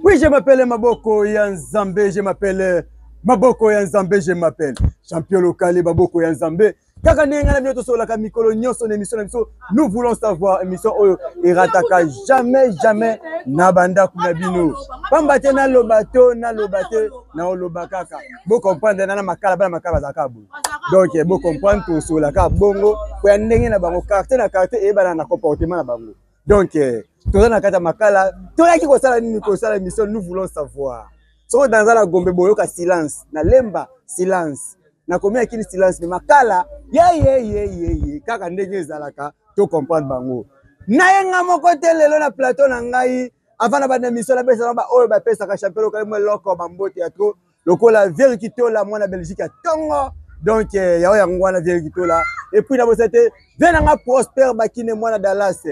Oui, je m'appelle Maboko ya Nzambe, je m'appelle Maboko ya Nzambe, je m'appelle Champion Lokale Maboko ya Nzambe. Kaka ndenge ngai na bino tosololaka mikolo nyonso na émission na biso, nous voulons savoir émission oyo erataka jamais jamais na bandako na bino. Pamba te naloba to naloba te naoloba kaka. Bo comprendre na makala bana makala bazalaka boye. Donc bo comprendre tosololaka bongo po ya ndenge na bango, quartier na quartier eyebana na comportement na bango. donc eh, toza na kati ya makala toyaki kosala nini kosala émission nous voulons savoir soki naza na gombe boyoka silence na lemba silence nakomi akini silence me makala yeyeyeyeye kaka ndenge ezalaka to comprendre bango naye nga moko te lelo na plateau na ngai avant na banda émission napesana baoyo bapesaka champion lokalimo eloko bambote ya trop lokola vieri kitola mwana belgique ya tongo donc eh, yao yango wana vieri kitola epuis na bosa te vie na nga prospère bakine mwana dallas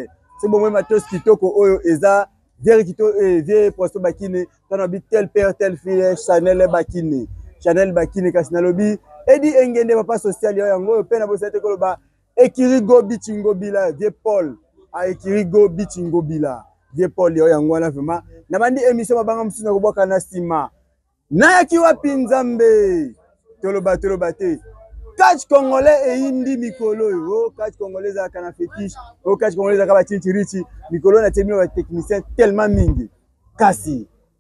so bomoi matos kitoko oyo eza vieri kito eh, vie prospère bakine tana bi tel père tel fille eh, chanel bakine chanel bakine kasi nalobi edi engende papa social yao yango oyo mpe na bosa te koloba ekiri go bici ngobila vie paul ah, ekiri go bici ngobila vie paul yo yango wana vraimen nabandi émission mabanga mosusu na kobwaka na nsima nayaki wapi nzambe toloba toloba te catch congolais eyindi mikolo oyo o oh, catch congolais ezalaka na fétiche o oh, catch congolais ezalaka bacincirici mikolo na tie bino batechnicien tellement mingi kasi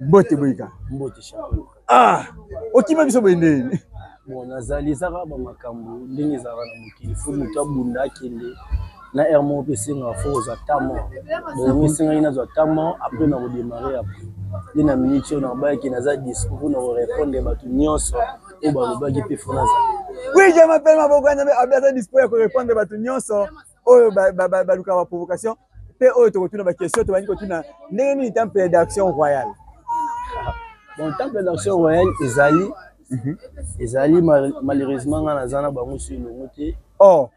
mbote boyika mbote ah okima biso boye nde bon nazali ezaka bamakambo ndenge ezalaka na mokili fo moto abunda akende na aire moko mpe esengaka fo kozwa tamo bongo esengaki nazwa tamo apres na kodemare apres nde na miniti oyo nabayaki naza dispo mpo na korepondre bato nyonso oyo balobaki mpe fo nazali oui je m'appelle maboko ya nzambe abe aza dispo ya korepondre bato nyonso oyo balukaka ba provocation mpe oyo tokotuna baquestion tobandi kotuna ndenge nini temple d'action royale bon temple d'action royale ezali mhm. ezali malheureusement ngai naza na bango su elongo te o oh.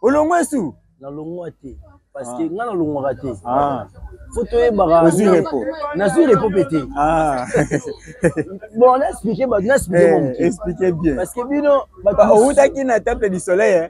olongwe su nalongwa te parce que ah. ngai nalongwaka te ah. fo toyebaka nazwi repo mpe te ah. bon naexplike bato naexplike eh, moke parce que bino outaki na temple du soleil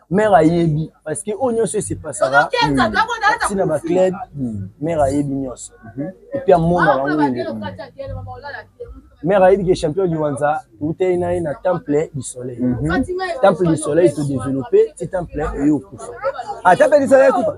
mère ayebi parce que oyo nyonso esepasaka ti na baclub mère ayebi nyonso epuis amona bango nde mère ayebi ke champion liwanza toutei na ye na temple du soleil mhm. temple du soleil todeveloppe ti temple eye okufa ata mpe lisala ekufa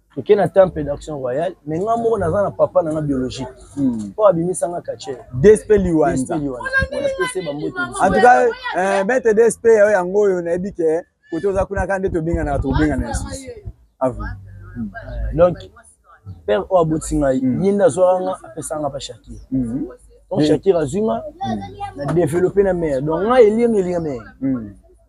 toke na temple d'action royale me nga moko naza na papa na nga biologique hmm. oyo abimisa nga kache dsp liwanza antuka eh, maitre dsp yayo yango oyo nayebi ke kote oza kuna kaka nde tobenganaka tokobengana ya susi avu hmm. eh, donc père oyo abotisi ngai hmm. ye nde azwaka nga apesaka nga pa shakir donc shakir azwi nga na développe na mare donc nga elinga elinga mare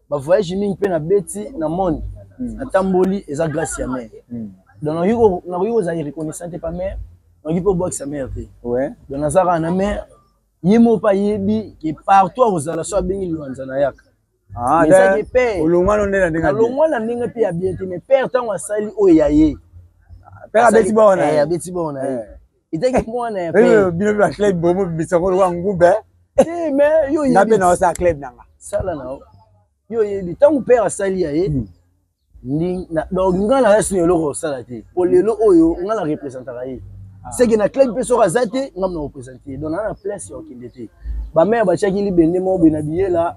ba voyage mingi mpe nabeti na monde hmm. natamboli eza grâce ya mère hmm. donc nakoki kozala irreconnaissant te pa mère nakoki mpe obwakisa mère te donc naza kaka na mère ye moko mpe ayebi ke partout akozala so abengi liwanza nayaka ah, ezaki mpe nalongwa na ndenge mpe ya bien te mais père ntango asali oyo ya ye père abeti bao na ye eh, abeti bao na ye eh. ezaki mwana ya eh, bino ba club bomo bimisa ngo lokola ngumbe eh, mais yo oyebi nga mpe naosala club na nga sala na yo oyebi ntango père asali ya ye hmm. donc nga naza sino eloko osala te mpo lelo oyo nga na representaka ye ah. seke na club mpe soki aza te nga mna represente ye donc naa na place ya okende te bamere batiaki libende moko boye na biyela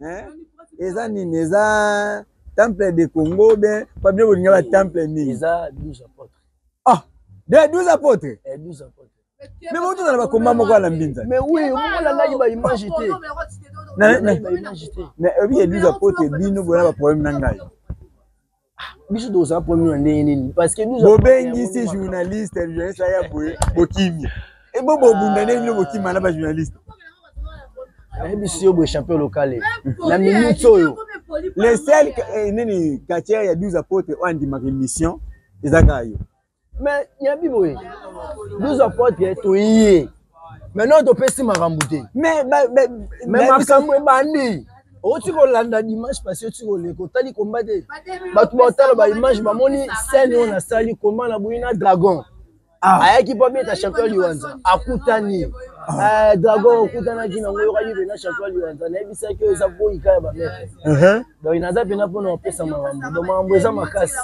hein eza nini eza temple de congo bien pa bino bolinga ba temple nini eza 12 apôtres ah de 12 apôtres eh 12 apôtres mais bon tozala bakomba moko na mbinza mais oui omolandaki baimage te mais oyebi ya 12 apôtres bino boza baproblème na ngai Ah, biso tozala problème na ndenge nini parce que bobengisi journaliste journaliste aya boye bokimi ebo eh, bobunda nde bino bokima na bajournaliste nayebisi yo boye champion locale na minute oyo le sel eh, nini katiere ya 12 apotre oyo andimaka émission eza kaka yo mais yabi boye 12 apotre toye maintenant topesi makambo te mais makambo ebandi oti kolanda dimanche pasi oti koleka otali komba te bato baotala baimage bamoni scène oyo nasali komba na boyi na dragon ah. ayaki mpo abeta champion liwanza akutani ah. eh, dragon okutanaki nango oyokaki mpena champion liwanza nayebisaki oyo eza boyika ya bametre uh-huh. donc naza mpena mpona kopesa makambo donc makambo eza makasi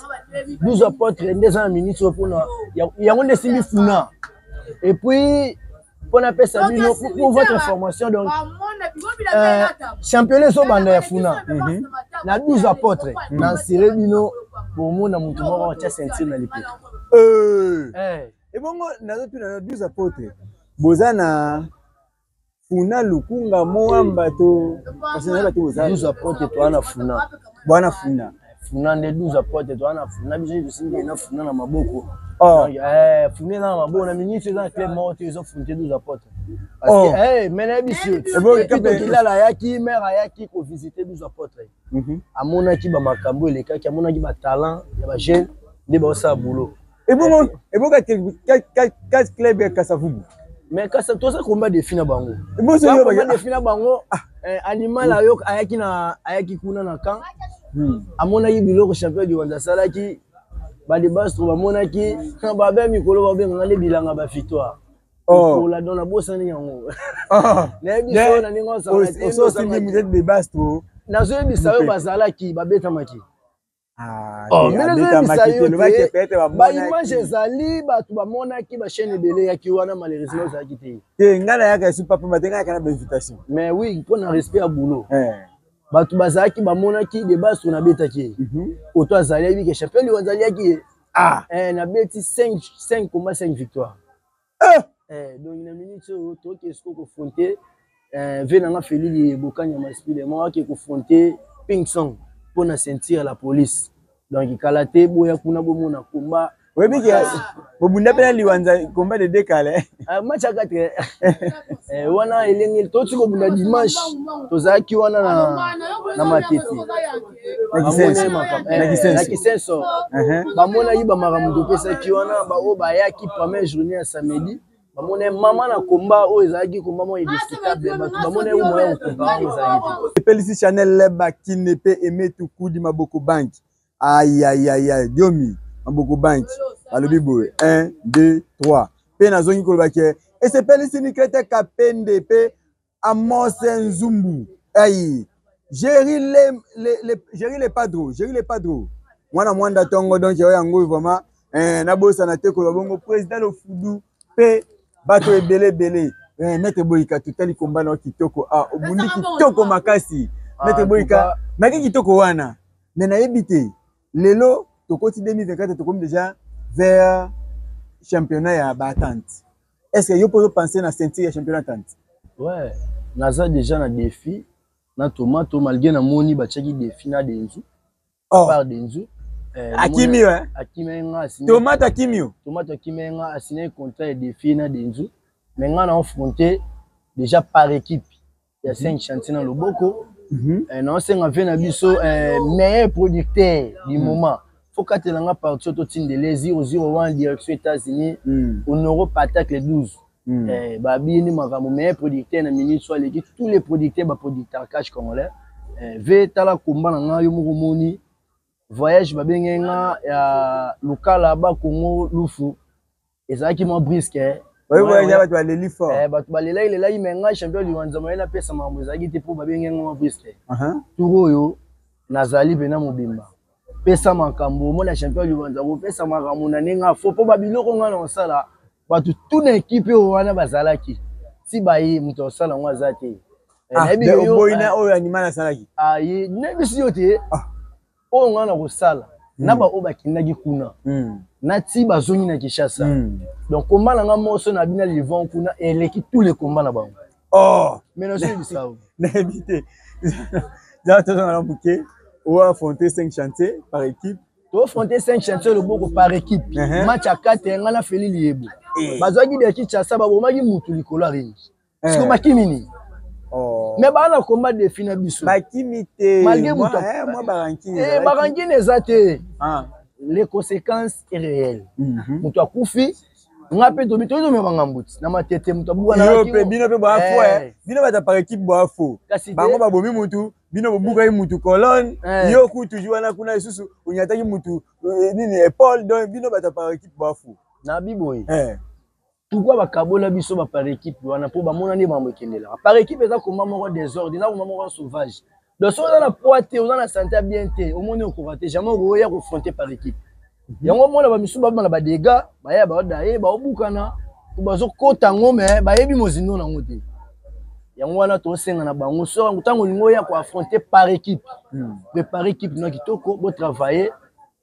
12 apotre nde eza na minute oyo mpona yango nde esimbi funa epuis mpo napesa bino pour votre information donc euh, championnat ezobanda ya funa mhm. na 12 apotre na nsire bino bomona motu moko atya ceinture na lipeto euh. eh. ebongo nazotuna na 12 apotre boza na funa lukunga moamba to parce na bato boza 12 apote to ana funa bwana funa funa nde 12 apote to ana funa biso nde tosimbi na funa na maboko oh eh funa na maboko na ministre eza club moko te ezo funte 12 apote parce oh. que eh mais na biso eboke kape kilala yaki mère ayaki ko visiter 12 apote mhm. amonaki ba makambo elekaki amonaki ba talent ya ba jeunes nde ba osala boulot ebongo ebongo kati club ya kasavubu mais kasa toza komba defi na bango bozoyoba defi na bango ah. eh, animal ayo ayaki na ayaki kuna na camp hmm. amonaki biloko champion du rwanda asalaki balibastro bamonaki babe mikolo babenganga nde bilanga bafitoa oh. ola don nabosani yango ah. nayebi so na ndenge osalaki mutete de bastro nazoyebisa yo bazalaki babetamaki Ah, oh, ndenge ezoyebisa yo te baimage ezali bato bamonaki bachaine ebele eyaki wana malheureusement ah. ozalaki te te ngai nayaka esu papa bate ngai yaka na bainvitation mais oui mpo na respect ya boulot eh. bato bazalaki bamonaki debas oyo nabetaki ye mhm. oto azali ayebike champion liwa azaliyaki ye ah. eh, nabeti 5 combat 5 victoire eh! Eh, donc na minute oyo toyoki esiko kofronte eh, ve nanga felili bokanya maspile moko ake kofronte ping song mpo na ceinture ya la police donc kala te boya kuna bomona komba oyebi ke bobunda mpe na liwanza komba de dekale ah, match ya 4 eh, wana elenge toti kobunda dimanche tozalaki wana na matete na kisenso bamonaki bamakambo topesaki wana baoyo bayaki première journée ya samedi bamona mama na komba oyo ezalaki komba moko indiscutable bato bamona yango moya kokompara yango ezalaki te epelisi chanel leba kine mpe emetukudi maboko banki ayayaya diomi maboko banki balobi boye 1 2 3 mpe nazongi koloba ke esepelisi nikete kapende mpe Amos Nzumbu. Hey. Jerry le, le, le, Jerry le Padro. Jerry le Padro. Mwana mwanda tongo donc yo yango vraiment eh, nabosana te koloba bongo président lofudu mpe bato ebele ebele eh, mete boyika totali komba na kitoko ah, obundi kitoko makasi ah, mete boyika naki kitoko wana me nayebi te lelo tokoti 2024 tokomi déjà vers championnat ya baatante est ce que yo mpo ozo pense na ceinture ya championnat tanti ouais naza déjà na défi na tomato malgré namoni batiaki défi na denzu oh. par denzu Eh, akimi yo tomate akimi yo tomate akimi ye nga asignaki contrat ya défi na denzu mais nga na affronte déjà par équipe ya mhm. saint chantier na loboko mhm. eh, naosenga mpe na biso eh, meilleur producteur du mhm. moment faut katela nga parti oyo totindele 001 direction états-unis honoro patacle 12 Mm. Eh, babini makambo meilleur producteur na minute so aleki tous les producteurs baproducteur cash congolais eh, ve tala komba na ngai yo moko moni voyage babenge nga ya lokala bakongo lufu ezalaki mwa briske eh. bato baleli fort eh, bato balelaki lelaki me ngai champion liwanza moye napesa makambo ezalaki te mpo babengi yango mwa briske uh-huh. tour oyo nazali mpena mobimba pesa makambo omona champion liwanza kopesa makambo na ndenge afo mpo babiloko ngai na kosala bato tu na ekipe oyo wana bazalaki si baye moto akosala yango aza te eh, ah, oyo anima nasalaki aye ah, nayebisi yo te ah. oyo ngai nakosala mm. na baoyo bakendaki kuna mm. nati bazongi na kinshasa mm. donc komba na ngai moso na bina livon kuna eleki tout le komba na bango oh. mais nazoyebisa nayebi te jaa tozanga na moke oaffronte cinq chantier par équipe tofronte cinq chantier loboko par équipe uh-huh. match ya kate ngai na feli liyebo eh. bazwaki de kinshasa babomaki motu likolo ya ringi eh. siko bakimi nini Oh. me baa na komba defi na biso bakimi te malgré moto barankine eza te ah. les conséquences est réelles mhm. moto akufi nga mpe tobi toyei tomema ngambo ti na matete moto abukanaape bino mpe boafo eh. eh. bino bato par équipe boafo bango babomi motu bino bobukaki motu colonne eh. yo ku toujours wana kuna lisusu onyataki motu nini epaule donc bino bato par équipe boafo na biboye pourquoi bakabola biso ba par équipe wana mpo bamona nde makambo ekendelaka par équipe eza komba moko desordre eza komba moko sauvage donc soki oza na poids te oza na sante ya bien te omoni okoka te jamais okoya kofronte par équipe mhm. yango omona bamisusu babima na badega baya baoda ye baobukana bazokota yango me bayebi mozindo na yango te yango wana tosenga na bango soki ntango olingi oya koaffronte par équipe hmm. prépare équipe na kitoko botravaille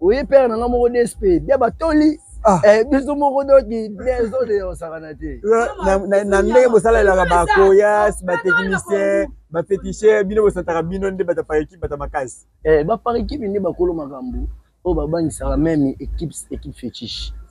oye père na nga moko dsp bia batoli Ah. Eh, biso moko doki des oyo eyosakana te na ndenge bosalelaka bakoyas batechnicien bafetichere bino bosataka bino nde bata par équipe bata makasi eh, ba par équipe nde bakolo makambo oyo babangisaka meme équipe équipe fétiche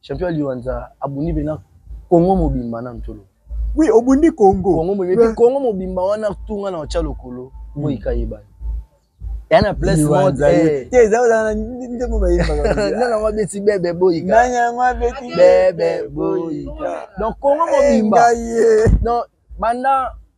Champion Liwanza abundi bena Congo mobimba na ntolo. Oui, obundi Congo. Congo mobimba, ouais. Congo mobimba wana tunga na ocha lokolo, mm. moi kayeba. Ya na place mode eh. Te za za nde mo bayemba. Na na wabeti bebe boyika. Na na wabeti bebe boyika. Donc Congo mobimba. Non, banda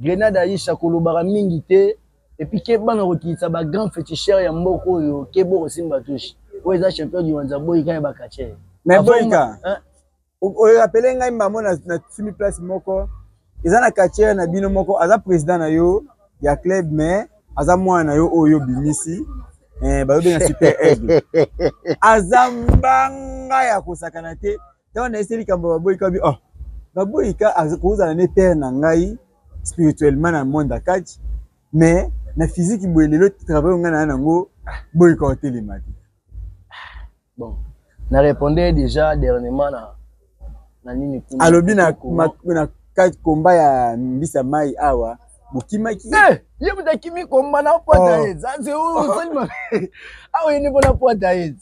Grenade Aisha kolobaka mingi te et puis ke bana kokitisa ba grand feticheur ya mboka oyo ke boko simba touche oyo eza champion du wanza boyika ya bakatcher mais boyika oyo apele ngai mbamo na simi place moko eza na katcher na bino moko aza président na yo ya club mais aza mwana na yo oyo obimisi eh, bayobenga super aigle aza mbanga ya kosakana te ntango na ese likambo baboyi kabi oh baboyi ka kozala ne père na ngai spirituellement na monde ya kati mais na physique boye lelo travail ngai naa nango boyi ka otelema te bon na répondre déjà dernièrement na na nini alobi na, na, na kati komba ya mbisa mai awa bokimaki eh, ye moto akimi komba na pwata ye zanze osali mabe awa yende mpo na pwata ye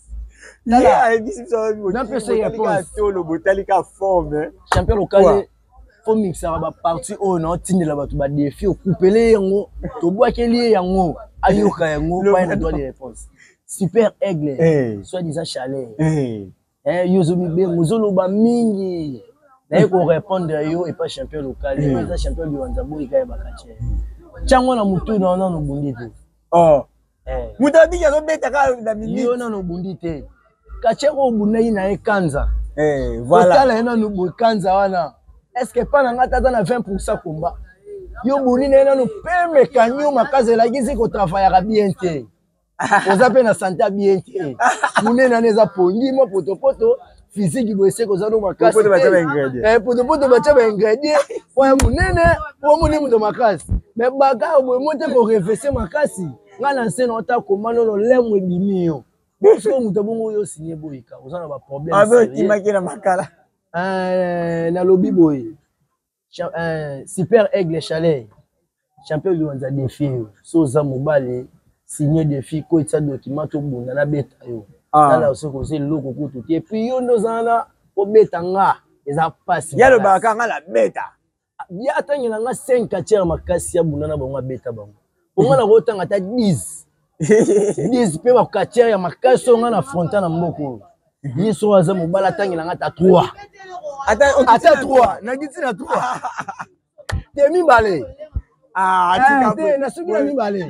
tolo botali ka forme champion lokale fomiksaka baparti oyo naotindela bato badefi okupele yango tobwakeli ye yango ayoka yango paye na droit de réponse super aigle eh. soit disant chalet eh. Eh, yo ozo bibe mozoloba mingi naye korépondre yo epa champion local ye eza champion biwanza boyi kaye bakatie ntango na motu na yo nano obundi te oh. eh. moto abiki azobeta kaka na minute yo nano obundi te katie ko obundaki na ye kanza eh, otala ye nano boye kanza wana est ce que epa na ngai ata aza na 20 pourcent komba yo obuni na ye nano peme kanio makasi elakisi kotravaillaka bien te oza mpe na sante ya bien te monene wana eza pongi mwa potopoto physique boye seke oza no makasi eh, potopoto batya baingredient mpo ya monene omoni moto makasi me baka boye mo te korevese makasi ngai na nse na ota koma nono lemo ebimi yo soki moto abongo oyo osigne boyika oza na baproblème ah, na makala eh, nalobi boye Euh, super aigle chalet champion liwanza defi yo so oza mobali signe defi koyetisa dokima tobunda nabeta yo ah. sala soki oza eloko kutu te epuis yo nde oza na kobeta nga eza mpasi ye alobaka nga nabeta ah, ye atangela nga 5 katiere makasi abunda na bango abeta bango bonga na kotanga ata 10 10 mpe bakatiere ya makasi oyo ngai na fronta na mboka oyo ye soko aza mobali atangela ngai ata 3 ata 3 nakiti na 3 te mibale ah, ah, te nasuki na mibale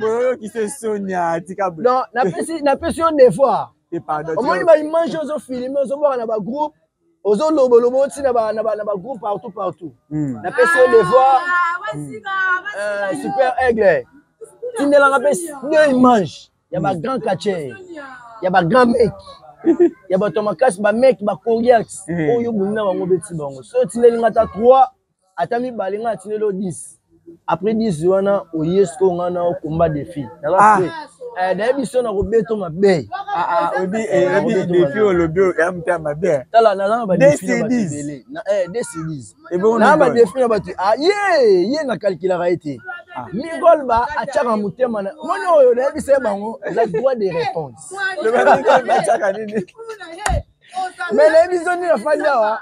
napesi yo devoir omoni baimage ozofilme ozobwaka na bagroupe ozo lobo lobo oti na ba na ba na ba groupe partout partout hmm. na pesi le voir hmm. euh, super aigle tindela nga pesi deux images ya ba hmm. grand catcher ya ba grand mec ya bato makasi ba mec ba coriax oyo bunda bango beti bango so tindeli nga ta 3 ata mibale nga atinelo 10 après 10 wana oye siko nga na okomba defi naza ah. fre eh, nayebi biso na kobeto mabe ah, ah, oyebi eh, defi olobi ya mta mabe tala naza na badefi na bato ebele dcds na badefi na bato ye ye na kalkulaka ye te Ah. migolba atyaka motema na moni oyo nayebisa ye bango la droit de réponse me nayebi biso nini afandi awa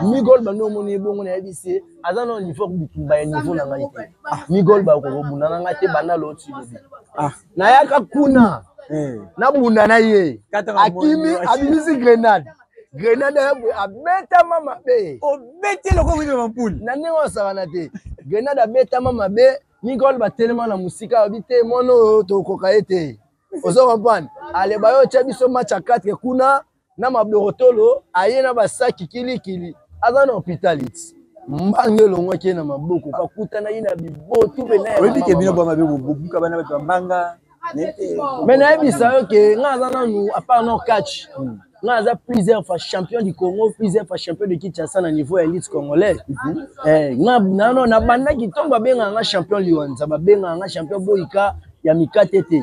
migol bandi omoni ye bongo nayebisi ye aza nao niveau bitumba ya niveau na ngai te ah. migol bakokobunda na ngai te banda loti lobi ah. nayaka kuna eh. nabunda na ye akimi abimisi grenade grenade ayabwe abetama mabe obeti eloko wino mampuli na ndenge osakana te grenade abetama mabe migol batelema na mosika abi te mwana oyo tokoka ye te ozo comprendre aleba yo otya biso match ya 4 kuna na maborotolo aye na basaki kilikili aza na hopitaliti mbange elongwaki ye na maboko bakutana ye na bibotu oyebi bino bwa mabe bobuka bana bato ya mbanga me nayebisa yo ke nga aza nanu apart no catch hmm. nga aza plusieurs fois champion du congo plusieurs fois champion de kinshasa na niveau ya elite congolais mhm. eh, nga nano nabandaki ntongo babengaka nga champion liwanza babengaka nga champion boyika ya mikate te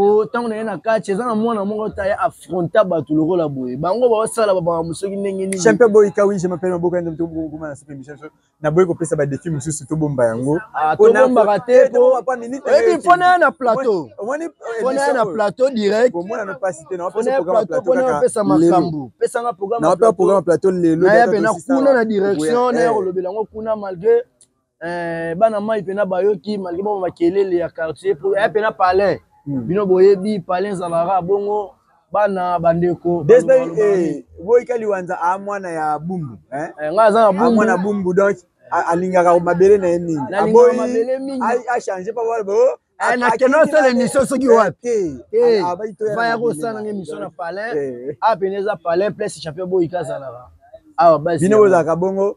po ntango naye na kati eza na mwana moko ta ya affronta bato lokola boye bango baosala babango soki ndenge nini champe boyi kawi je mapele maboka nde tokokoma na sepe michel so naboyi kopesa badefi mosusu tobomba yango ah, tobombaka te eh, oyebi mpo naya na plateau mpo naya na plateau direct pesa makambo pesanga programme plateau lelo nayabe na kuna na direction naye kolobela yango kuna malgré eh, bana mai mpena bayoki malgre bango makelele ya quartier po ya mpena palais hmm. bino boyebi palais ezalaka bongo bana bandeko eh, boyika liwanza a ah, mwana ya bumbu eh? eh, ngai aza na ah, mwana bumbu donc alingaka mabele na ye mingi aboyi achange pa wana bao Eh, nakende osala émission soki eh, wapi eh, ah, ah, vaya kosala nanga émission na palin apene eza palin place champion boyika azalaka awa bino bozalaka bongo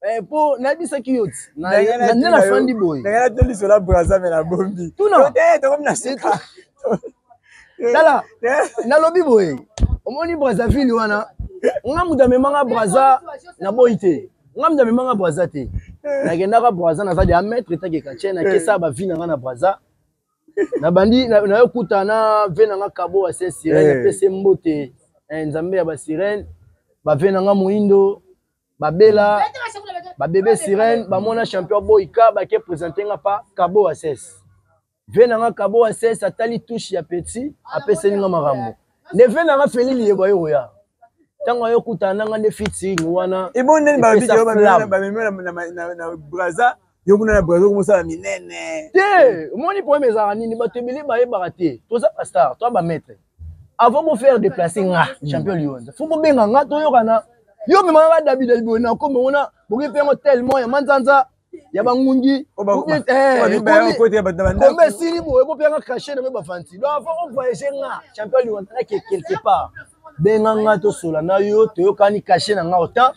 Eh, po nayebisaki yo ti nde nafandi boye ndenge natolisola braza me nabombi tokomi na sika tala nalobi boye omoni brazzaville wana nga moto amemanga braza naboyi te nga moto amemanga braza te nakendaka braza naza de ametre takeka tie nakesa bavi na nga na braza nabandi nayo kuta na ve na nga kabo ya se sirene apese mbote eh, nzambe ya basirene bave na nga moindo babela babebe sirene bamona champion boyika bake presente nga pa kabo ases ve na nga kabo ases atali touche ya petit apeseli nga makambo nde ve na nga feli liyeba ye koya ntango ayo kutana na nga nde fiting wana ebo ndeni babikebamemela braza yo kuna na braza okomosala minene te omoni problème ezalaka nini bato ebele bayebaka te toza bastar toa bamaître avant bo faire déplacer nga hmm. champion lionza faut bobenga nga toyokana yo mema ba dabida liboye na koma ona boki mpe yango tellement ya manzanza ya bangungi kombe esili boye bo mpe yanga crache na me bafanti donc avant o voyage nga champion lionza nake quelque part benga nga tosola na yo toyokani crache na nga otemps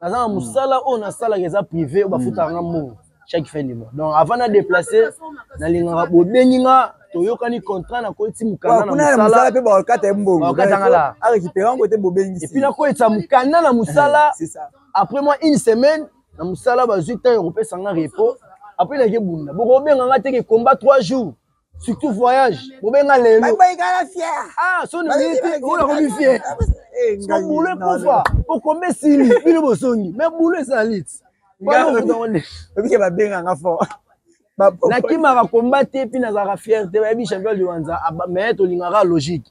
naza na mosala oyo nasalaka eza privé oyo bafutaka nga mbongo chaque fin du mois donc avant na déplace nalingaka bobengi nga toyokani contrat nakoyeti mokanda na mosala mpe bakokata ye mbongo bakokatanga la arekipere yango te bobengisi epuis nakoyetisa mokanda na mosala après moi une semaine na mosala bazwi ntango ya kopesa nga repos apres nake bunda bokobenga nga teke combat 3 jours surtout voyage bobenga lelo baikala fier ah soni minute ola komi fier so boulot ekufa po kombe esili bino bosongi mais boulot ezali ti obike babenga nga fort nakimaka komba te mpe nazalaka fier te bayebi champion liwanza mais tolingaka logique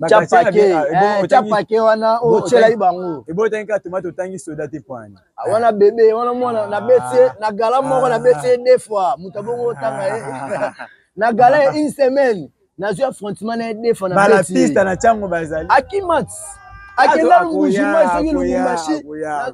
capake eh, capake wana otyelaki bango ebotaki kaka tomate otangi soda te poani ah, wana ah. bebe wana mwana nabeti ah. na gala moko nabeti ye deux fois moto abongo otanga ye na gala ye une semaine nazwi affrontement na ye deux fois nabalapista na ntango bazali akimat akenda lubujima esoki lubumbashi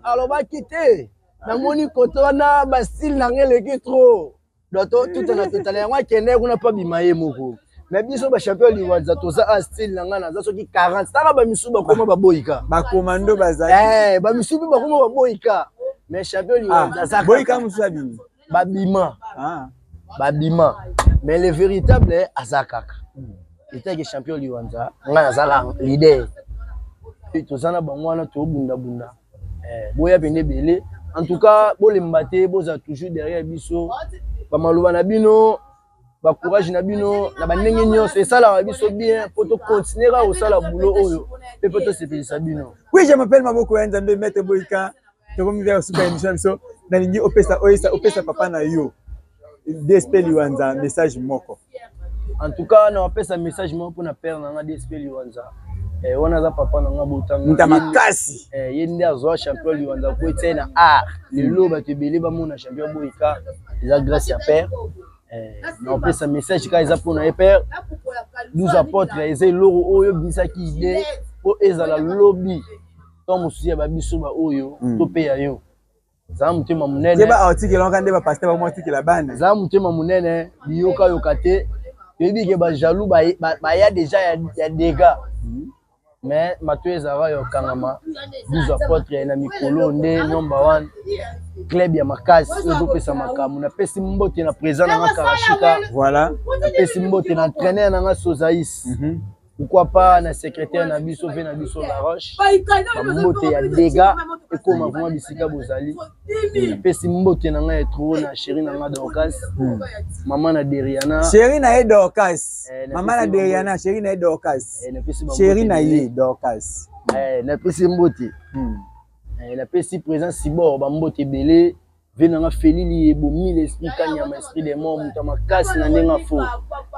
alobaki te namoni koto wana bastile na ngai eleki trop doto tuta na totala yango akende kuna mpo abima ye moko me biso bachampion liwanza toza a style na ngai naza soki 40 tala bamisu bakoma baboyika bakomando bazali eh, bamisu mpe bakoma baboyika me champion liwanza ah, aza boyika mosusu abimi babima ah. babima mais le véritable aza kaka hmm. etaki champion liwanza ngai nazala leader toza na bango wana tobundabunda eh, boya pende ebele en tout cas bolemba te bozala toujours derrière biso bamaloba na bino bacourage na bino na bandenge nyonso esalaka biso bien mpo tokontinue kaka kosala bulo oyo mpe mpo tosepelisa bino oui je m'appelle maboko ya nzambe mete boyika tokomi bia kosuka emission na biso nalingi opesa oyesa opesa papa na yo dsp liwanza message moko en tout cas na wapesa message moko mpona père na nga dsp liwanza eh, wana aza papa na nga botanga makasi eh, ye nde azwa champion liwanza ko etia ye na art lelo bato ebele bamona champion boyika eza grâce ya père eh, na opesa message kaka eza mpona ye père 12 apotre eza eloko oyo obisaki ide mpo ezala lobi to mosusu ya babiso baoyo hmm. topeya yo za motema monene keba aotikela waka nde bapaster bango atikela bana za motema monene biyokayoka te toyebi ke bajaloux baya deja ya dega mhm. mais mato ezalaka ya okangama 12 apotre na mikolo nde nomba wana club ya makasi oyo ezopesa makambo napesi mbote na président na nga karashika voilà napesi mbote na entraîneur na nga sozais mm -hmm. pourquoi pas na secrétaire na biso mpe na biso la roche bambote ya dega ekoma vraimen bisika bozali napesi mbote na ngai ya tro na chéri na ngai dorcas hmm. mama na deriana chéri na ye dorcas eh, mama na deriana chéri na ye dorcas chéri na ye dorcas napesi mbote hmm. eh, napesi présent sibor bambote ebele vie nanga felili ye bomile esprit kanyama esprit de mort moto ya makasi na ndenge afo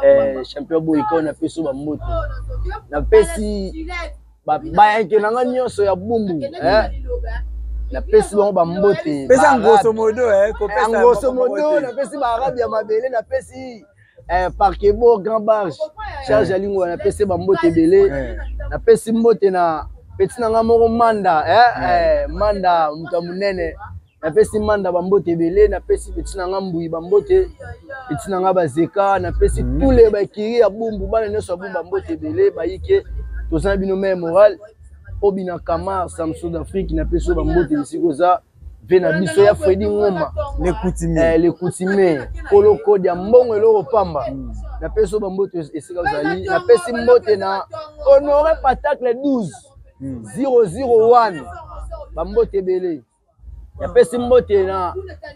eh, champion boyi kao napesi bambote napesi bayanke nanga nyonso ya bumbu eh. napesi bango bambote pesa ngoso modo eh, eh, ngoso modo napesi baarabe ya mabele napesi eh, parkebo grand barge charge ya lingola napesi bambote ebele napesi mbote na peti na nga moko manda eh, eh, manda moto ya monene napesi manda bambote ebele napesi peti na nga mbui bambote peti na nga bazeka napesi mm. tule bakiri ya bumbu bana nyonso ya bumbu bambote ebele bayike toza na bino mai moral obi na kamar samsud afrique napesi yo bambote bisika oza mpe na biso ya fredi ngoma lekutime eh, kolokodi ya mbongo eloko pamba mm. napesi yo bambote esika ozali napesi mbote na honore patacle 12 001 mm. bambote ebele napesi mbote na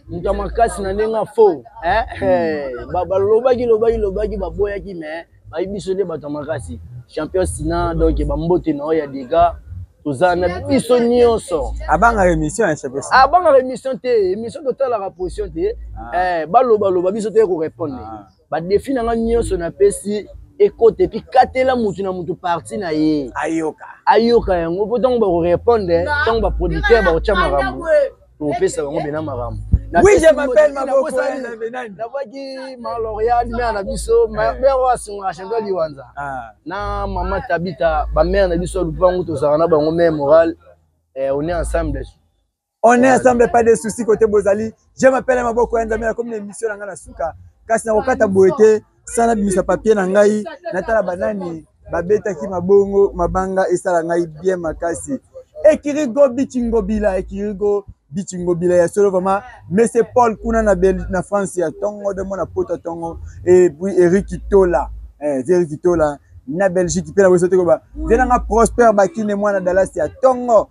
moto ya makasi na ndenge afo eh, eh, balobaki lobaki lobaki baboyaki me bayi biso nde bato ya makasi champion sina donc bambote na oyo ya dega toza na biso nyonso abangaka émission ya champion abangaka émission te émission totalaka position te ah. eh, balobaloba biso te korépondre ah. badefi na nga nyonso napesi ekota epi katela motu na motu parti na ye ayoka ayoka yango mpo ntango bakorepondre ntango baproducteur bakotya makambo tokopesa bango bena makambo Oui, je m'appelle Maboko Nabaki Maloria, mère na biso, mère wa sunga chanto liwanza. Ah. Na maman Tabita, ba mère na biso lupangu tozaka na bango mère morale. Eh, on est ensemble. On est ensemble pas de soucis côté Bozali. Je m'appelle Maboko Nzamela comme une émission na ngana suka. Kasi na kokata boye te sana bimisa papier na ngai natala banani babetaki mabongo mabanga esala ngai bien makasi. Ekirigo Bichingobila Ekirigo Bichingobila ya solo vraiment Monsieur Paul kuna na, Bel na France ya tongo de mona poto tongo et puis Eric Tola. Eh, Eric Tola na Belgique pe na bosote ko ba. Venanga Prosper Bakine mwana Dallas ya tongo.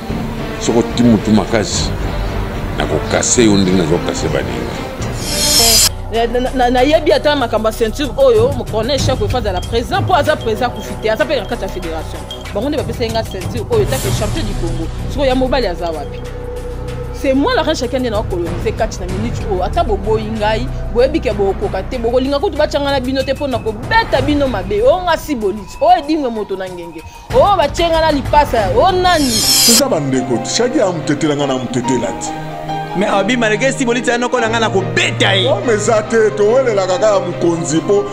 soki oti motu makasi nakokase yo ndenge nazokase baninga nayebi ata makambo ya ceinture oyo mokona echec oyo fazala président mpo aza président akufi te aza mpe na kati ya fédération bango nde bapesaki nga ceinture oyo etake champion du congo sikoyo ya mobali aza wapi c'est moi la reine chacun nde nakolonise kati na minute oyo ata boboyi ngai boyebi ke bokokoka te bokolinga kutu batyanga na bino te mpo na kobeta bino mabe oyo nga si boliti oyo edimwe moto na ngenge oyo batye ngai na lipasa o nani toza bandeko shaki amutetela ngai na mutetela te me abi malgré esi bolitya noko na ngai na kobeta ye ome eza te towelelaka kaka mokonzi mpo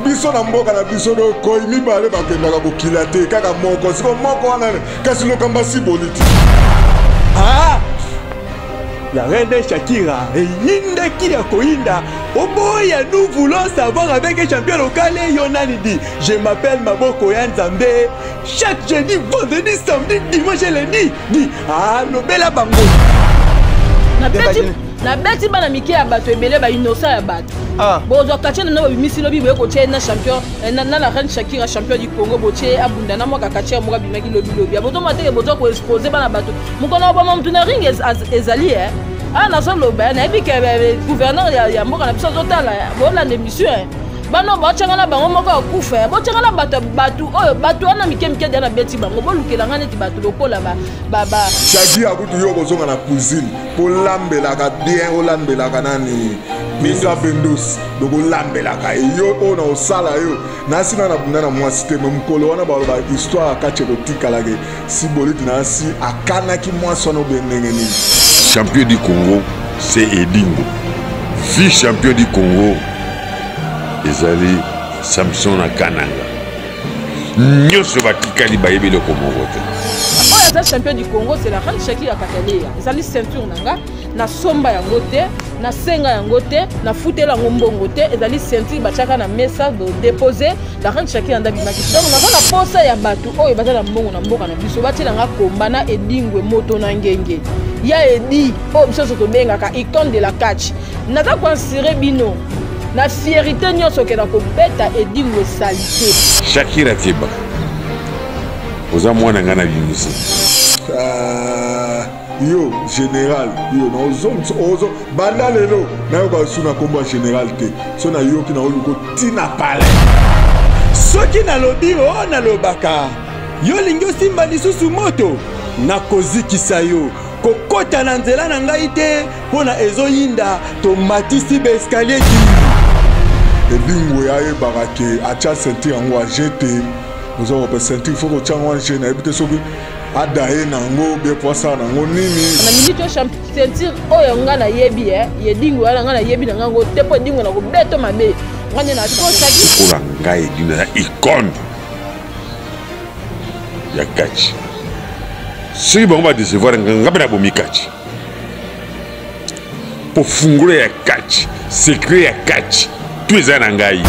biso na mboka na biso dokoi mibale bakendaka kokila te kaka moko siko moko wana kasi lokamba si boliti ah! la reine Shakira eyindaki ya koyinda oboya nous voulons savoir avec champion locale yo nani di Je m'appelle Maboko ya Nzambe. Chaque jeudi, vendredi, samedi, dimanche et lundi, dit ah lobela bango. Na beti na beti bana mike ya bato ebele ba innocent ya bato. Ah. Bozwa kache na babimisi lobi boye kotie na champion eh, na la reine Shakira champion du Congo botie abunda na mwaka kache ya moka bimaki lobi lobi. Bozo mateke bozo ko expose bana bato. Mukona obama mtu na ring ezali eh. Ah nazoloba eh, nayebi ke eh, gouverneur ya mboka na biso azotala eh. bolanda emission eh. bana botyanga na bango moko ya kufa ya botyanga na bato bato oyo bato wana mike mike dia nabeti bango bolukela ngai neti bato lokola bashadi akutu yo okozonga na cuisine kolambelaka bien olambelaka nani misa bendos lokolambelaka yo oyo na osala yo nasi na nabunda na mwasi te me mokolo wana baloba histoire ya kati ekotikalake si boliti nasi akanaki mwasi wana obe ndenge nini champion du congo se edingo vi champion du congo ezali samson na kananga nyonso batikali bayebi eloko moko te oyo aza champion du congo c'est la reine shaki ya kataleya ezali ceinture na nga nasomba yango te nasenga yango te nafutela yango mbongo te ezali ceinture batiaka na mesa depose la reine shaki yanda bimaki donc naza na posa ya bato oyo baza na mbongo na mboka na biso batiela nga komba na edingwe moto na ngenge ya edi oyo biso nyonso tobengaka icone de la catch naza koinsure bino na fierité nyonso okenda kobeta edingo esali te shakira keba oza mwana ngai na bimisi ah, yo général yo naozongisa ozo banda lelo nayoka su na nkombo ya général te so nayoki naoluka ntina pale soki nalobi o oh, nalobaka yo olingi osimba lisusu moto nakozikisa yo kokota na nzela na ngai te Pona ezo yinda to matisi ba escalier di. Edingwe ayebaka ke atya ceinture yango aje te oza kope ceinture fo kotya yango aje nayebi te soki ada ye na yango bie po asala na yango nini na minute oyo ceinture oyo ngai nayebi e ye edingwe wana ngai nayebi na ngai yango te mpo edingwe na kobeto mabe ngai nde nakosaki lokola ngai edingwe na icone ya kaci soki bango badecevoir ngai mpe nabomi kaci mpo fungola ya kati sekre ya kati to eza na ngai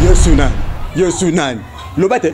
yesu nani yesu nani loba te